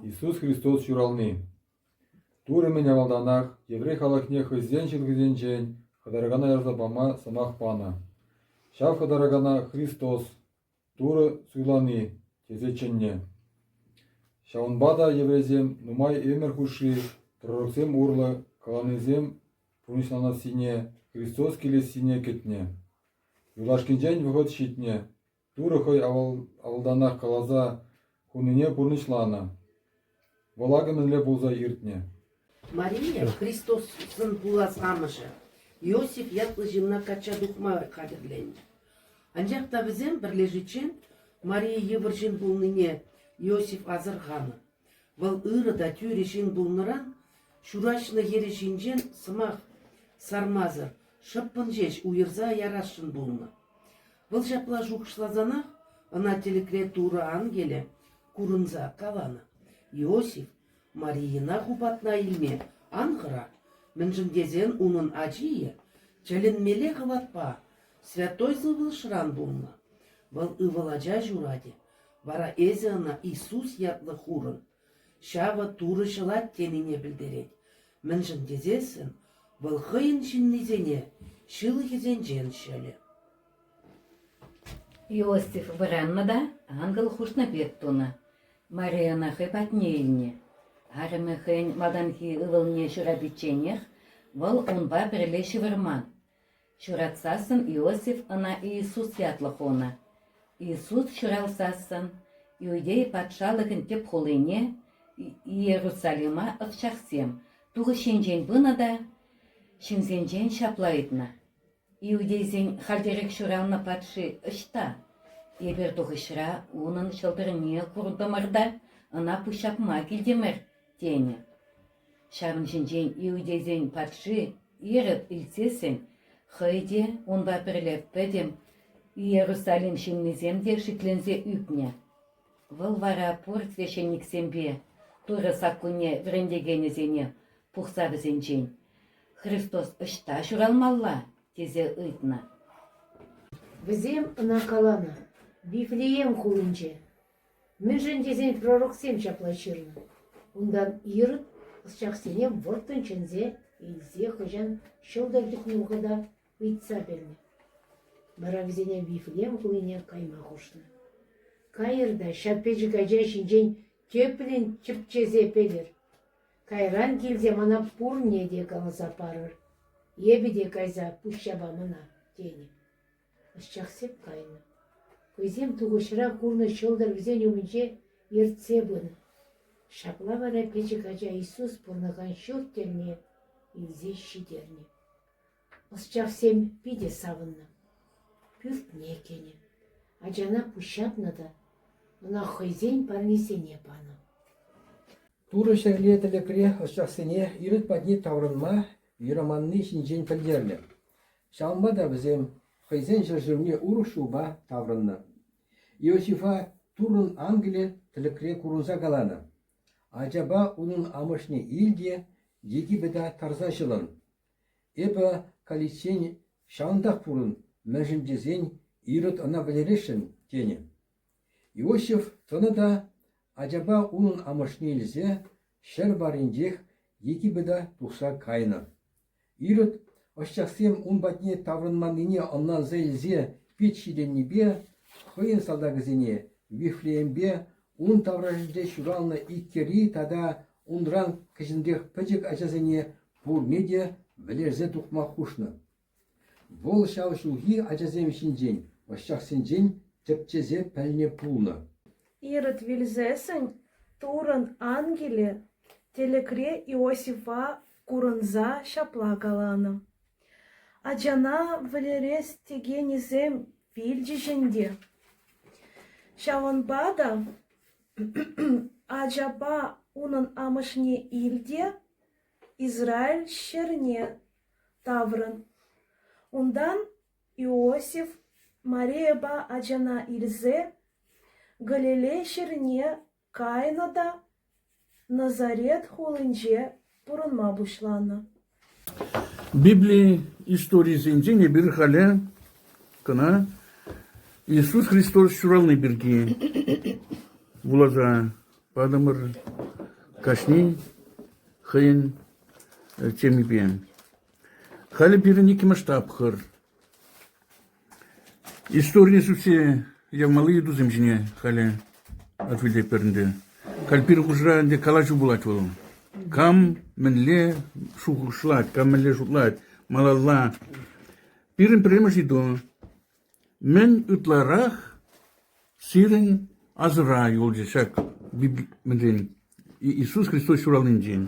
Иисус Христос ҫурални. Турӑ мӗн авалтанах еврей халӑхне хӑйсен чӗлхисенчен хӑтаракана ярса пама сӑмах панӑ. Ҫав хӑтаракана Христос, Турӑ суйлани, тесе чӗннӗ. Ҫавӑнпа та еврейсем нумай ӗмӗр хушши пророксем урлӑ каланисем пурнӑҫланассине, Христос килессине кӗтнӗ. Юлашкинчен вӑхӑт ҫитнӗ, Турӑ хӑй авалтанах каласа хунине пурнӑҫланӑ, вӑл акӑ мӗнле пулса иртнӗ. Мария Христосӑн пулас амӑшӗ Иосиф ятлӑ ҫынна качча тухма хатӗрленнӗ. Анчах та вӗсем пӗрлешиччен Мария йывӑр ҫын пулнине Иосиф асӑрханӑ. Вӑл ырӑ та тӳрӗ ҫын пулнӑран ҫураҫнӑ хӗрӗ ҫинчен сӑмах сармасӑр шӑппӑн ҫеҫ уйӑрса ярасшӑн пулнӑ. Вӑл ҫапла шухӑшласанах ӑна тӗлӗкре Турӑ ангелӗ курӑнса каланӑ: Иосиф Марийӑна хупатна илме ан хӑра, мӗншӗн тесен унӑн ачийӗ тӗлӗнмелле хӑватпа, святой сывлӑшран пулнӑ. Вӑл ывӑл ача ҫуратӗ, Вара эсӗ ӑна Иисус ятлӑ хурӑн, ҫавӑ Турӑ ҫӑлать тенине пӗлтерет, мӗншӗн тесессӗн вӑл хӑйӗн ҫыннисене ҫылӑхӗсенчен ҫӑлӗ. Иосиф вӑраннӑ та ангел хушнӑ пек тунӑ. Мария ӑна хӑй патне илнӗ. Арӑмӗ хӑйӗн малтанхи ывӑлне ҫурапичченех вӑл унпа пӗрле ҫывӑрман. Ҫуратсассӑн Иосиф ӑна Иисус ятлӑ хунӑ. Иисус ҫуралсассӑн Иудея патшалӑхӗн тӗп хулине Иерусалима ӑсчахсем тухӑҫ енчен пынӑ та ҫынсенчен ҫапла ыйтнӑ: «Иудейсен хальтерех ҫуралнӑ патши ӑҫта? Эпир тухӑҫра унӑн ҫӑлтӑрне куртӑмӑр та ӑна пуҫҫапма килтӗмӗр», – тенӗ. Ҫавӑн ҫинчен иудейсен патши Ирод илтсессӗн хӑй те, унпа пӗрле пӗтӗм Иерусалим ҫыннисем те шикленсе ӳкнӗ. Вӑл вара пур священниксемпе Турӑ саккунне вӗрентекенӗсене пухса вӗсенчен «Христос ӑҫта ҫуралмалла?» тесе ыйтнӑ. Вӗсем ӑна каланӑ: Вифлеем хулинче. Мӗншӗн тесен пророксем ҫапла ҫырнӑ: «Унтан Ирод ӑсчахсене вӑрттӑн чӗнсе илсе хӑҫан ҫӑлтӑр тытнӑ вӑхӑта ыйтса пӗлнӗ. Вара вӗсене Вифлеем хулине кайма хушнӑ. Кайӑр та ҫак пӗчӗк ача ҫинчен тӗплӗн тӗпчесе пӗлӗр. Кайран килсе мана пурне те каласа парӑр. Эпӗ те кайса пуҫҫапа мана», – тенӗ. Ӑсчах сеп кайнӑ, хӑйсем тухӑҫра курнӑ ҫӑлтӑр вӗсен умӗнче ертсе пынӑ. Ҫапла вара пӗчӗк ача Иисус пурӑнакан ҫурт тӗлне илсе ҫитернӗ. Ӑсчахсем питӗ савӑннӑ. Пӳртне кӗнӗ. Ачана пуҫҫапнӑ та ӑна хӑйсен парнисене панӑ. Турӑ ҫӗрле тӗлӗкре ӑсчахсене ирӗк патне таврӑнма юраманни ҫинчен пӗлтернӗ. Ҫавӑнпа та вӗсем хӑйсен ҫӗршывне урӑх ҫулпа таврӑннӑ. Иосифа Туррӑн ангелӗ тӗлӗкре курӑнса каланӑ: «Ачапа унӑн амӑшне ил те Египета тарса ҫӑлӑн. Эпӗ каличчен ҫавӑнтах пурӑн, мӗншӗн тесен Ирод ӑна вӗлересшӗн», – тенӗ. Иосиф тӑнӑ та, ачапа унӑн амӑшне илсе, ҫӗр варринчех Египета тухса кайнӑ. Ирод ӑсчахсем ун патне таврӑнманнине ӑнланса илсе пит ҫитӗннипе хӑйӗн салтакӗсене Вифлеемпе ун таврашӗнче ҫуралнӑ иккӗри тата унран кӗҫӗнрех пӗчӗк ачасене пурне те вӗлерсе тухма хушнӑ. Вӑл ҫав ҫулхи ачасем ҫинчен, ӑсчахсенчен тӗпчесе пӗлнӗ пулнӑ. Ирод вилсессӗн Туррӑн ангелӗ тӗлӗкре Иосифа курӑнса ҫапла каланӑ: «Ачана вӗлерес текенӗсем вилчӗҫ ӗнтӗ. Ҫавӑнпа та ачапа унӑн амӑшне ил те Израиль ҫӗрне таврӑн. Унтан Иосиф Марийӑпа ачана илсе Галилей ҫӗрне кайнӑ та Назарет хулинче пурӑнма пуҫланӑ. Библи историйӗсенчен эпир халӗ кӑна Иисус Христос ҫурални пирки вуласа Патӑмӑр кашнин хӑйӗн темипе. Халӗ пирӗн иккӗмӗш тапхӑр. Историне сӳтсе явмалли ыйтусем ҫине халӗ ответлетпӗр ӗнтӗ. Халь пирӗн хушӑра ӗнтӗ калаҫу пулать вӑл. Кам мӗнле шухӑшлать, кам мӗнле шутлать малалла. Пирӗн пӗрремӗш ыйту Мӗн ытларах? сирӗн асӑра юлчӗ ҫак Библин Иисус Христос ҫуралнинчен.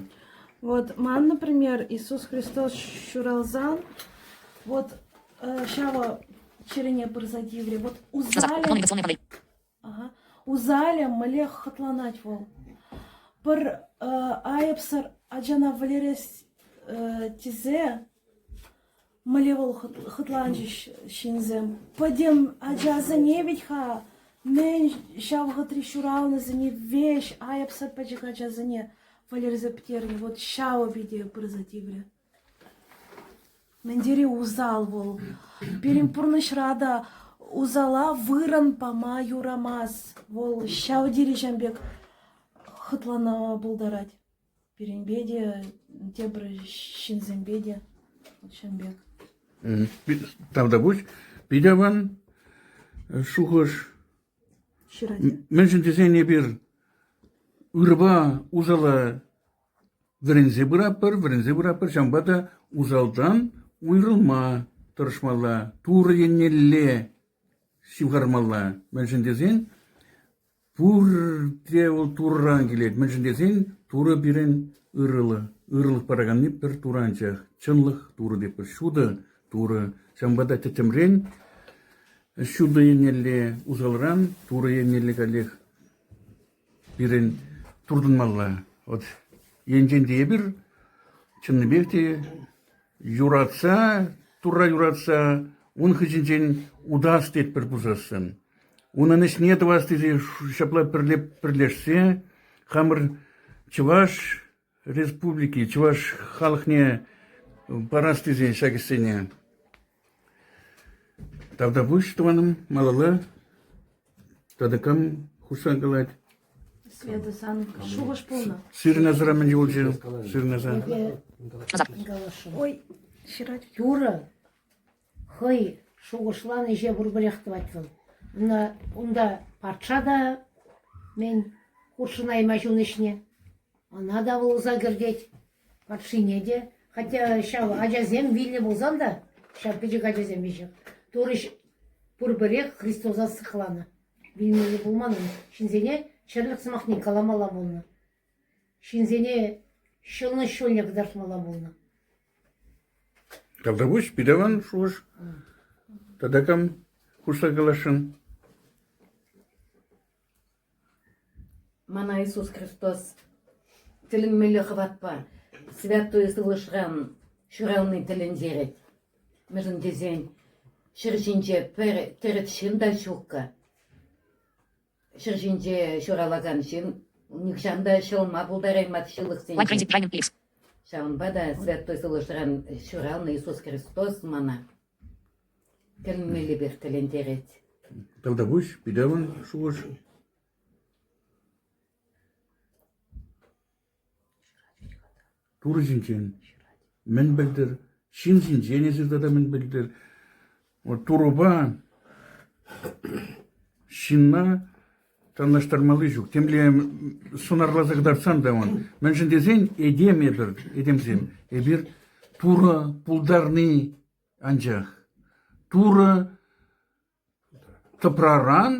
Вот ман, например, Иисус Христос ҫуралсан, вот ҫавӑ чӗрене пырса тиврӗ. Вот узнали, Усалӗ мӗнле хӑтланать вӑл! Пӗр айӑпсӑр ачана вӗлерес тесе мӗнле вӑл хӑтланчӗҫ ҫынсем. Пӗтӗм ачасене вӗт-ха мӗн ҫав вӑхӑтри ҫуралнисене веҫ айӑпсӑр пӗчӗк ачасене вӗлерсе пӗтернӗ. Вот ҫавӑ питӗ пырса тиврӗ. Мӗн тери усал вӑл. Пирӗн пурнӑҫра та усала вырӑн пама юрамасть. Вӑл ҫав тери-ҫан пек хӑтланма пултарать. Пирӗнпе те, тепӗр ҫынсемпе те ҫан пек. Тавта пуҫ. Питӗ аван шухӑш. Ҫырать. Мӗншӗн тесен эпир ырӑпа усала Вӗренсе пыратпӑр, вӗренсе пыратпӑр, ҫавӑнпа та усалтан уйрӑлма тӑрӑшмалла, Турӑ еннелле ҫывхармалла. Мӗншӗн тесен пурте вӑл Турран килет. Мӗншӗн тесен Турӑ пирӗн ырӑлӑх, ырӑлӑх параканни пӗр Турӑ анчах. Чӑнлӑх Турӑ тетпӗр, ҫутӑ Турӑ. Ҫавӑнпа та тӗттӗмрен ҫутӑ еннелле, усалран Турӑ еннелле каллех пирӗн туртӑнмалла. Вот енчен те эпир чӑннипех те юратса, Турра юратса ун хыҫӗнчен утас тетпӗр пусассӑн. Унӑн ӗҫне тӑвас тесе ҫапла пӗрле пӗрлешсе хамӑр чӑваш Республики чӑваш халӑхне парас тесен ҫак ӗҫсене тавтапуҫ тӑванӑм малалла. Тата кам хушса калать? Света сан шухӑш пулнӑ. Сирнасӑра мӗн юлчӗ? Сирнаса. Ой, ҫырать. Юрӑ. Хӑй шухӑшланӑ ӗҫе пурпӗрех тӑвать вӑл. Ӑна унта патша та мӗн хутшӑнаймасть ун ӗҫне. Ӑна та вӑл ӑса кӗртет, патшине те. Хотя ҫав ачасем вилнӗ пулсан та, ҫав пӗчӗк ачасем веҫех, турӑҫ пурпӗрех Христоса сыхланӑ. Вилмелле пулман ун. Ҫынсене чӗрлӗх сӑмахне каламалла пулнӑ. Ҫынсене ҫӑлӑнӑҫ ҫулне кӑтартмалла пулнӑ. Калтапуҫ питӗван шухӑш тата кам хушса каласшӑн? Мана Иисус Христос тӗлӗнмелле хӑватпа святой сывлӑшран ҫурални тӗлӗнтерет. Мӗншӗн тесен ҫӗр ҫинче пӗр тӗрӗс ҫын та ҫуккӑ. Ҫӗр ҫинче ҫуралакан ҫын нихҫан та ҫӑлма пултараймасть ҫылӑхсенчен. Ҫавӑнпа та Святой Сывлӑшран ҫуралнӑ Иисус Христос мана тӗлӗнмеллипех тӗлӗнтерет. Тӑлтапуҫ, питавӑн шухӑш. Пур ҫинчен мӗн пӗлтӗр, ҫын ҫинчен эсир тата мӗн пӗлтӗр? Турӑпа ҫынна танлаштармалли ҫук. Темле сӑнарласа кӑтартсан та ман. Мӗншӗн тесен этем эпир, этемсем, эпир Турӑ пултарни анчах. Турӑ тӑпраран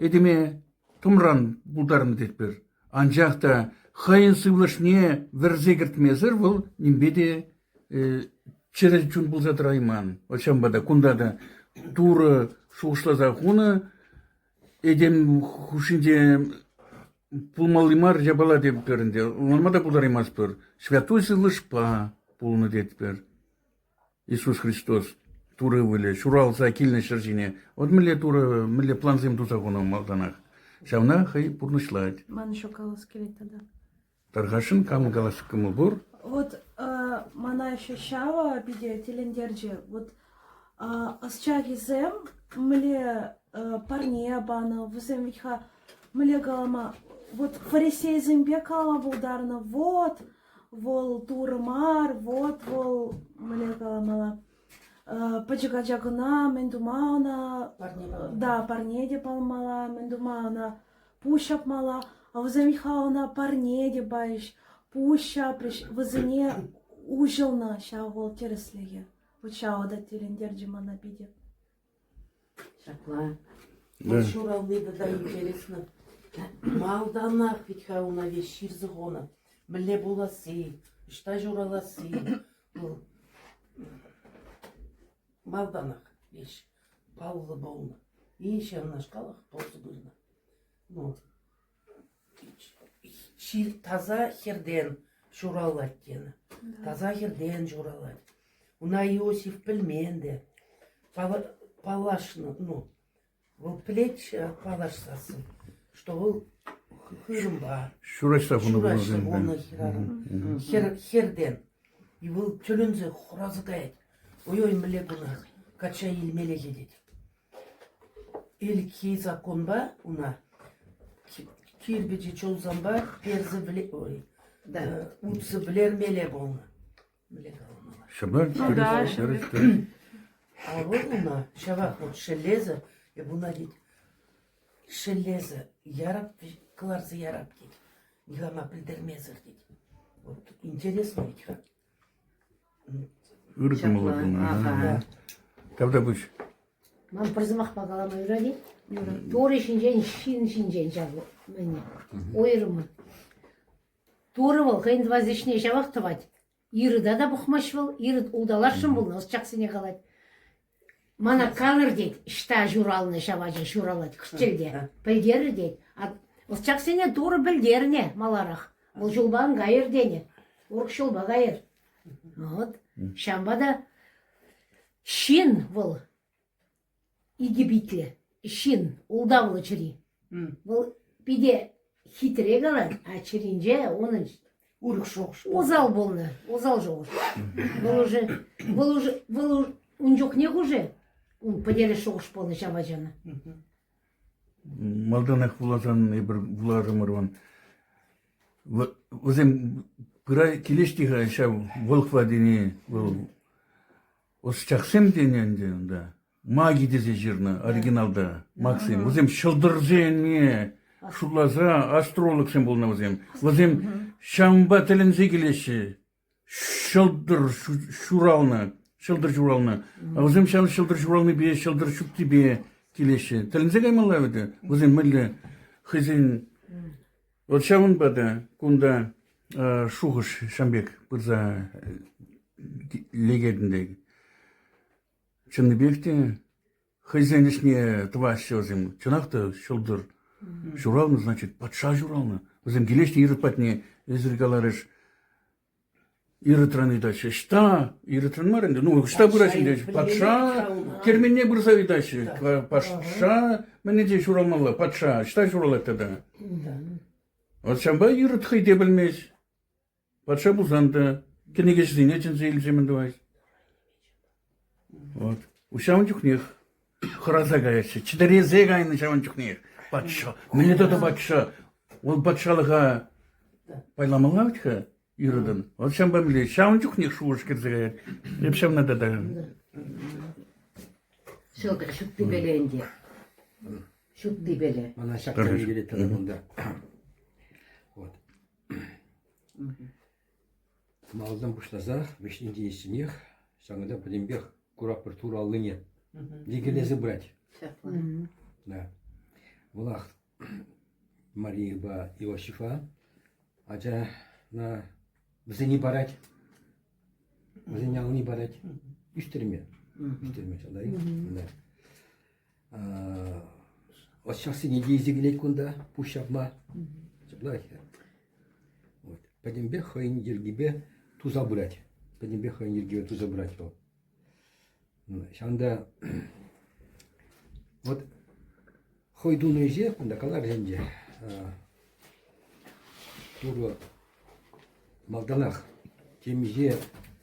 Этӗме тӑмран пултарнӑ тетпӗр, анчах та хӑйӗн сывлӑшне вӗрсе кӗртмесӗр вӑл нимпе те чӗрӗ чун пулса тӑрайман. Ҫавӑнпа та кунта та Турӑ шухӑшласа хунӑ этем хушшинче пулмалли мар япала тетпӗр ӗнтӗ, ӑнланма та пултараймастпӑр. Святой сывлӑшпа пулнӑ тетпӗр. Иисус Христос Турӑ ывӑлӗ ҫуралса килнӗ ҫӗр ҫине вӑт мӗнле Турӑ, мӗнле плансем туса хунӑ малтанах. Ҫавна хӑй пурнӑҫлать. Ман еще калас килет тата. Тархасшӑн, камӑн калас кӑмӑл пур? Вот э, мана еще ҫава питӗ тӗлӗнтерчӗ. Вот э, ӑсчахӗсем мӗнле э, парне панӑ, вӗсем вӗт-ха мӗнле калама, вот фарисейсемпе калама пултарнӑ, вот Вӑл Турӑ мар, вот вӑл мӗнле каламалла, пӗчӗк ача кӑна, мӗн тума ӑна? Парне палмалла. Да, парне те палмалла, мӗн тума ӑна пуҫ ҫапмалла. А вӗсем Михха ӑна парне те пайӗҫ, пуҫ ҫапрӗҫ, вӗсене уҫӑлнӑ ҫав вӑл тӗрӗслӗхе. Вот ҫавӑ та тӗлӗнтерчӗ мана питӗ. Ҫапла, вӑл ҫурални тата интереслӗ. Малтанах вӗт-ха ӑна веҫ ҫырса хунӑ. Мӗнле пуласси, ӑҫта ҫураласси вӑл малтанах веҫ паллӑ пулнӑ. Инҫе ӑнашкалах пулса пынӑ. Ну, Ҫил таса хӗртен ҫуралать тенӗ. Таса хӗртен ҫуралать. Уна Иосиф пӗлмен те. Пала- Паллашнӑ, ну, вӑл пӗлетчӗ паллашсассӑн, что вӑл хы- хырӑмпа Ҫураҫса хунӑ ҫураҫса вунӑсемпе. хунӑ хӗрарӑм. Хӗр, хӗртен. И вӑл тӗлӗнсе хураса каять. Ой-ой, мӗнле кунах, качча илмелле тет. Ӗлӗкхи законпа уна кирпӗчи чулсанпа утса вӗлермелле пулнӑ. Ну да, а вӑл уна ҫавах вот шеллесе, эп уна тет, шеллесе ярап кӑларса ярап тет, никама пӗлтермесӗр тет. Вот интересно ведь как. Ыртӑмлӑ кунта. Тавта пуҫ. Ман пӗр сӑмахпа калама юрать-и? Турӑ ҫинчен, ҫын ҫинчен ҫав мӗне. Уйрӑммӑн. Турӑ вӑл хӑйӗн тӑвас ӗҫне ҫавах тӑвать. Ирыда та пӑхмасть вӑл, ирыт улталасшӑн пулнӑ, ӑсчахсене калать. Мана калӑр тет, ӑҫта ҫуралнӑ ҫав ача ҫуралать кӗҫтелте, пӗлтерӗр тет. Ӑсчахсене Турӑ пӗлтернӗ маларах. Вӑл ҫулпа ан кайӑр тенӗ. Урӑх ҫулпа кайӑр. Вӑт, ҫавӑнпа та ҫын вӑл египетлӗ, ҫын, ултавлӑ чӗри. Вӑл питӗ хитре калать, а чӗринче унӑн урӑх шухӑш пур. усал пулнӑ, усал шухӑш. Вӑл уже, вӑл уже, вӑл уж- ун чухнех уже ун пӗтерес шухӑш пулнӑ ҫапачана. Малтанах вуласан, эпир вуларӑмӑрван. Вӑ- Вӗсем пыра килӗҫti-ха ҫав Волхва тени, вӑл ӑсчахсем тенӗ ӗнтӗ унта. Маги тесе ҫырнӑ оригиналта Максим. Вӗсем ҫӑлтӑрсене шутласа астрологсем пулнӑ вӗсем. Вӗсем ҫавӑнпа тӗлӗнсе килеҫҫӗ. Ҫӑлтӑр ҫуралнӑ, ҫӑлтӑр ҫуралнӑ. Вӗсем ҫав ҫӑлтӑр ҫуралнипе, ҫӑлтӑр ҫуттипе килеҫҫӗ. Тӗлӗнсе каймалла вӗт. Вӗсем мӗнле хӑйсен вот ҫавӑнпа та кунта шухӑш ҫам пек пырса лекетӗн Чӑннипех те хӑйсен ӗҫне тӑваҫҫӗ вӗсем. Чӑнах та ҫӑлтӑр ҫуралнӑ, значит, патша ҫуралнӑ. Вӗсем килеҫҫӗ ирӗк патне, эсир каларӗш. Ирытран ыйтаҫҫӗ. Ӑҫта? Ирытран мар ӗнтӗ. Ну, ӑҫта пырать ӗнтӗ? Патша керменне пырса ыйтаҫҫӗ. Патша мӗне те ҫуралмалла? Патша ӑҫта ҫуралать тата? Вот ҫавӑнпа Ирод хӑй те пӗлмест. Патша пулсан та кӗнекеҫӗсене чӗнсе илсе мӗн тӑвать? Вот. Ҫавӑн чухнех хӑраса каяҫҫӗ. Чӗтӗресе кайнӑ ҫавӑн чухнех патша. Мӗне тата патша? Вӑл патшалӑха пайламалла вӗт-ха юратӑн. Вӑл ҫавӑнпа мӗнле? Ҫавӑн чухнех шухӑш кӗрсе каять. Эп ҫавна та такам. Ҫӑлтӑр ҫуттипеле ӗнтӗ. Ҫуттипеле. Мана ҫак тӗне килет тата кунта. Вот. Малтан пуҫласах вӗҫне тиесшӗнех, ҫакӑнта пӗтӗмпех куратпӑр тур аллине йӗкелесе пырать. Ҫапла. Да. Вӑлах Марийӑпа Иосифа ачана вӗсене парать, вӗсене ални парать. Ӳстерме, ӳстерме шалтаи. Да. От ҫаксене те илсе килет кунта пуҫ ҫапма. Ҫапла ӗҫе. Вот. Пӗтӗмпех хӑйӗн йӗркипе туса пырать. Пӗтӗмпех хӑйӗн йӗркипе туса пырать вӑл. Ҫавӑнта вот хӑй тунӑ ӗҫе кунта калар ӗнтӗ. Турӑ малтанах темиҫе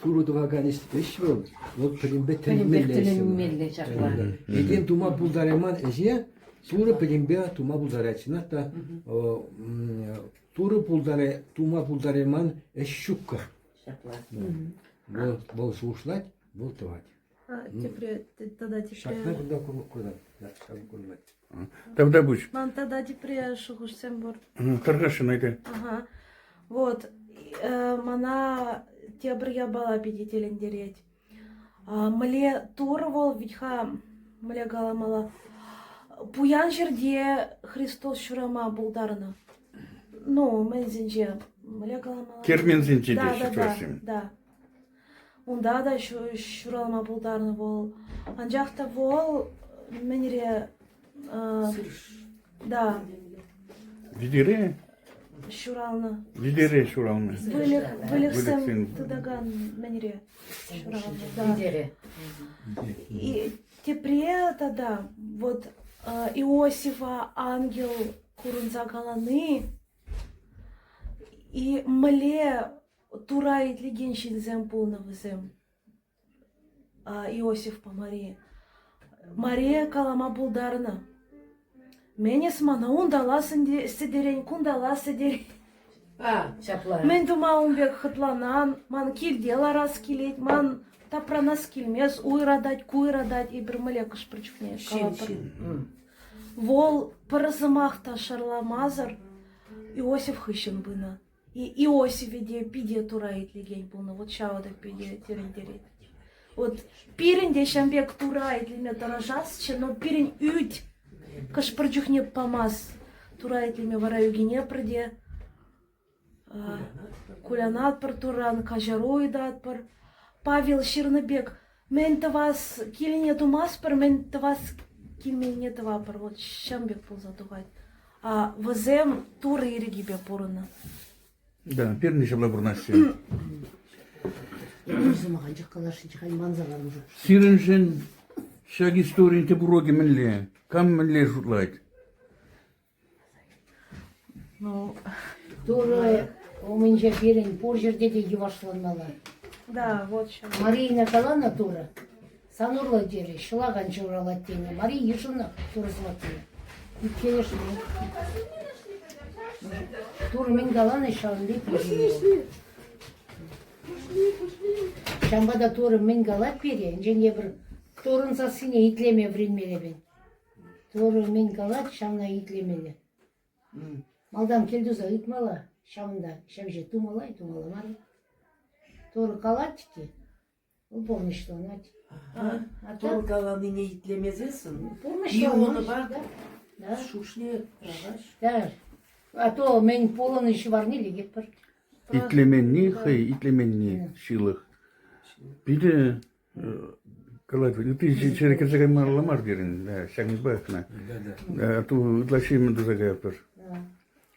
Турӑ тӑвакан ӗҫ вӑл, вӑл пӗтӗмпех тӗлӗнмелле ҫапла. Этем тума пултарайман ӗҫе Турӑ пӗтӗмпе тума пултарать. Чӑнах та Турӑ тума пултарайман ӗҫ ҫуккӑ. Вӑл шухӑшлать, вӑл тӑвать. Тепре тата тепре... Ҫакна кунта куратӑп. Ҫакна курмать. Тогда пусть. Ман тогда тепре шухӑшсем пур. Кӑркӑшшӑн эйте. Ага. Вот. Мана тепӗр япала питӗ тӗлӗнтерет. Мле тур вӑл витха мле каламала пуян ҫӗрте Христос ҫурама пултарнӑ. Ну, мӗнсенче? Мле каламала? Керменсенче те ҫыхлассим. Да, да. Унта та ҫуралма пултарнӑ вӑл. Анчах та вӑл мӗнре? Да. Вилӗре? Ҫуралнӑ. Вилӗре ҫуралнӑ. Выльӑх, выльӑхсем тытакан мӗнре ҫуралнӑ. Да. И тепре тата вот Иосифа ангел курӑнса калани и мле Тура итлекен ҫынсем пулнӑ вӗсем. Иосифпа Мари. Мария калама пултарнӑ. Менес мана унталас сӗтерен, кунталас сӗтерен. А, ҫапла. Мӗн тума ун пек хӑтланан? Ман килте ларас килет, ман тапранас килмес, уйратать, куйратать. Эпир млекӑш пӗр чухне калатпӑр. Вӑл пӗр сӑмах та шарламасӑр Иосиф хыҫҫӑн пынӑ. Иосифе те питӗ тура итлекен пулнӑ. Вот ҫавӑ та питӗ тӗлӗнтерет. Вот пирӗн те ҫавӑн пек тура итлеме тӑрӑшасчӗ, но пирӗн ӳт хӑш-пӗр чухне памасть. Тура итлеме вара ӳкӗнетпӗр те кулянатпӑр турран, каҫару ыйтатпӑр. Павел ҫырнӑ пек Мӗн тӑвас килне тумастпӑр, мӗн тӑвас килмене тӑвапӑр. Вот ҫын пек пулса тухать. А вӗсем Турӑ ирӗкӗпе пурӑннӑ. Да, пирӗн ҫӑмла пурӑнаҫҫӗ. Сӑмах анчах каласшӑн халь манса лармӑшӑп. Сирӗншӗн ҫак историн тӗп уроки мӗнле? Кам мӗнле шутлать? Ну, Турӑ умӗнче пирӗн пур ҫӗрте те йӑвашланмалла. Да, вот що. Марина каланӑ Турӑ, сан урлӑ терӗ, ҫӑлакан ҫуралать тенӗ. Мари йышӑнах турӑсла тенӗ. Иккенӗш мӗн? Турӑ мӗн каланӑ, ҫавӑн пек йышӑнмалла. Ҫавӑнпа та Турӑ мӗн калать пире, енчен тепӗр Турӑн сассине итлеме вӗренмелле пӗн. Турӑ мӗн калать, ҫавна итлемелле. Малтан кӗлтуса ыйтмалла, ҫавӑнта ҫӗвҫӗ тумалла-тумалла мар. Турӑ калать-ҫке, вӑл пурнӑҫланать. А Турӑ каланине итлемесессӗн пурнӑҫланмасть. Да. Шушне пӑрахаҫ. Да. А то мӗн пулӑнӑ ҫӑварне лекетпӗр. Итлеменни хӑй итлеменни ҫылӑх. Питӗ калать, ты ҫӗре кӗрсе каймалла мар терӗн, ҫакӑнпа кӑна. Ытлашши мӗн туса каятпӑр.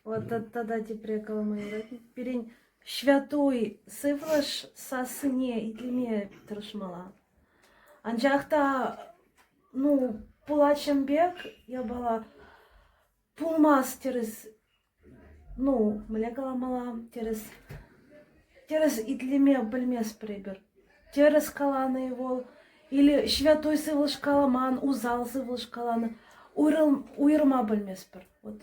Вот тогда тепре калама юрать. Пирӗн ҫвятуй сывлӑш сассине итлеме тӑрӑшмалла. Анчах та, ну, пулас пек япала пулмасть тӗрӗс Ну, мӗнле каламалла, тӗрӗс, тӗрӗс итлеме пӗлместпӗр эпир. Тӗрӗс каланӑ-и вӑл или ҫвятой сывлӑш каламан, усал сывлӑш каланӑ, уйрӑлма пӗлместпӗр. Вот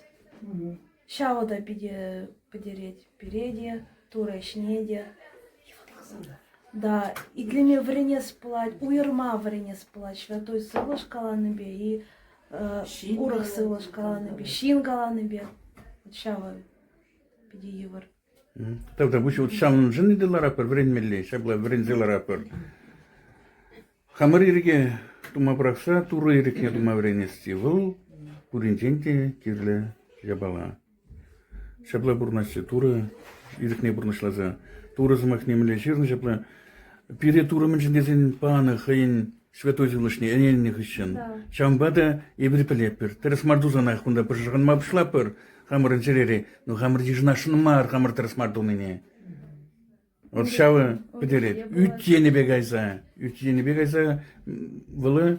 ҫавӑ та питӗ пӗтерет пире те, Турӑ ӗҫне те. Да, итлеме вӗренес пулать, уйӑрма вӗренес пулать ҫвятой сывлӑш каланипе и урӑх сывлӑш каланипе, ҫын каланипе вот ҫавӑ питӗ йывӑр. Тогда пуҫ вот ҫавӑншӑн итӗ ларатпӑр, вӗренмелле, ҫапла вӗренсе ларатпӑр. Хамӑр ирӗке тума пӑрахса Турӑ ирӗкне тума вӗренесси вӑл пуринчен те кирлӗ япала. ҫапла пурӑнаҫҫӗ Турӑ ирӗкне пурнӑҫласа. Турӑ сӑмах нимле ҫырнӑ ҫапла пире Турӑ мӗншӗн тесен панӑ хӑйӗн святой сывлӑшне ӗненнӗ хыҫҫӑн. Ҫавӑнпа та эпир пӗлетпӗр, тӗрӗс мар тусанах кунта пӑшӑрханма пуҫлатпӑр хамӑрӑн чӗрере, но хамӑр йышӑнасшӑн мар хамӑр тӗрӗс мар тунине. От ҫавӑ пӗтерет. Ӳт енӗпе кайса, ӳт енӗпе кайса вӑл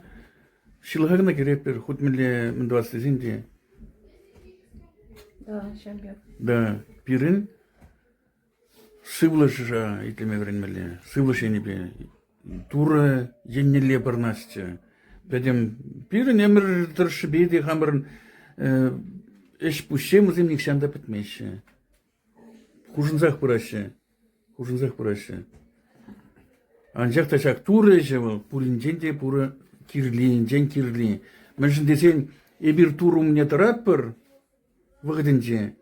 ҫылӑха кӑна кӗретпӗр, хут мӗнле мӗн тӑвас тесен те. Да, ҫав пек. Да, пирӗн сывлӑша итлеме вӗренмелле, сывлӑш енӗпе. Турӑ еннелле пӑрнасчӗ. Пӗтӗм пирӗн ӗмӗр тӑршшӗпе те хамӑрӑн ӗҫ-пуҫсем вӗсем нихҫан та пӗтмеҫҫӗ. Хушӑнсах пыраҫҫӗ, хушӑнсах пыраҫҫӗ. Анчах та ҫак Турӑ ӗҫӗ вӑл пуринчен те пурӑ кирленинчен кирли. Мӗншӗн тесен эпир Турӑ умне тӑратпӑр вӑхӑтӗнче.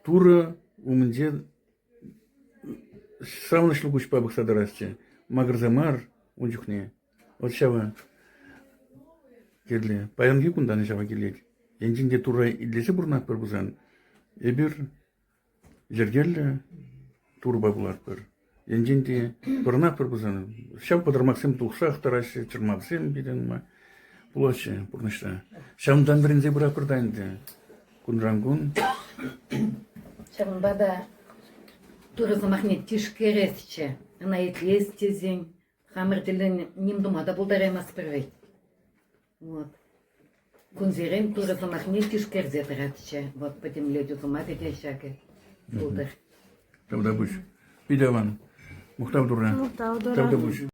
Турӑ умӗнче савӑнӑҫлӑ куҫпа пӑхса тӑрасчӗ макӑрса мар ун чухне. Вот ҫавӑ кирлӗ. Паянхи кунтан ҫава килет. Енчен те Турра итлесе пурӑнатпӑр пулсан, эпир йӗркеллӗ Турӑпа пулатпӑр. Енчен те пурӑнатпӑр пулсан, ҫав пӑтӑрмахсем тухсах тӑраҫҫӗ, чӑрмавсем питӗ нумай пулаҫҫӗ пурнӑҫра. Ҫавӑнтан вӗренсе пыратпӑр та ӗнтӗ кунран-кун. Ҫавӑнпа та Турӑ сӑмахне тишкересчӗ, ӑна итлес тесен Хамӑр тӗллӗн ним тума та пултараймастпӑр вӗт. Вот. Кунсерен Турӑ сӑмахне тишкерсе тӑратчӗ. Вот пӗтӗмлетӳ сӑмахӗ те ҫакӑ пултӑр. Тавтапуҫ. Питаван, мухтав турра. Мухтав тура. Тавтапуҫ.